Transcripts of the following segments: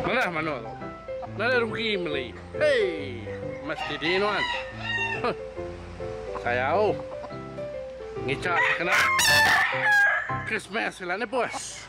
Manah manok tu. Nada rugi meli. Hei. Mas didi nuan. Huh. Sayau. Ngica kena. Christmas sila ni bos.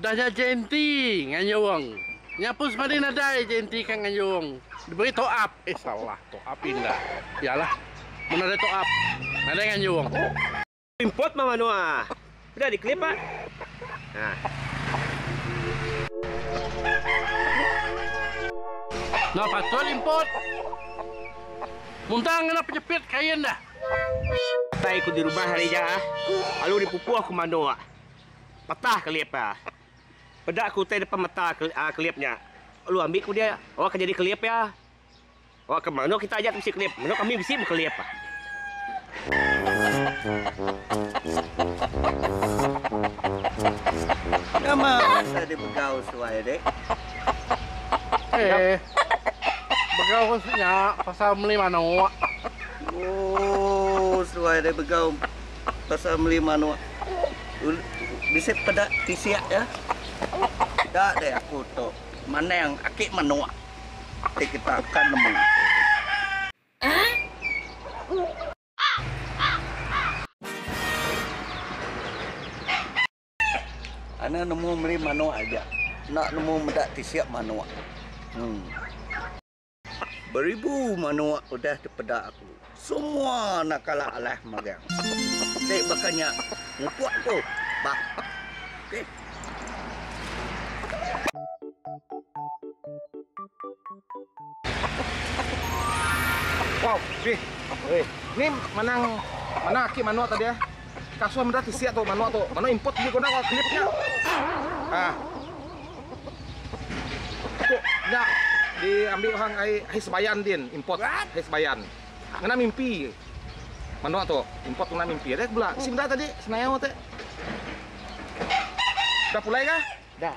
Udah nya Jainty ngayung. Nya pun semadi nadai Jainty ka ngayung. Diberi top up. Eh salah top up inda. Iya lah. Mun nadai top up. Nadai ngayung. Import mah manua. Udah di clip ah. Nah patut import. Muntang kena penyepit kain dah. Utai ku di rumah hari nya ah. Lalu di pupuh ku manua. Patah kelip iya. Peda ku utai depan mata kelip nya. Lalu ambi ku dia, Awak ke nyadi kelip iya. Awak ke mano kita aja ti bisi kelip. Mano kami bisi meh kelip. Nama pasal di begau suai dik? Eh, begau ku nya pasal meli manok. Oh, suai dik begau. Pasal meli manok bisi peda tisik iya. Eda deh aku tu manang aki manok ti kita akan nemu. Ana nemu meli manok aja enda nemu meda tisik manok. Beribu manuk udah dipeda aku. Semua anak kala alah magang. Ti baka nya ngupuk aku bah. Okey. Wow. Ni manang mana aki manuk tadi eh. Kasua meda ti sia tu manok tu. Manok import ji guna ga clip nya. Ha. Tu nya di ambi orang ai hai sebayan din import hai sebayan. Ngena mimpi. Manok tu import ngena mimpi ada bela. Isi meda tadi senayau te. Dah pulai ga? Dah.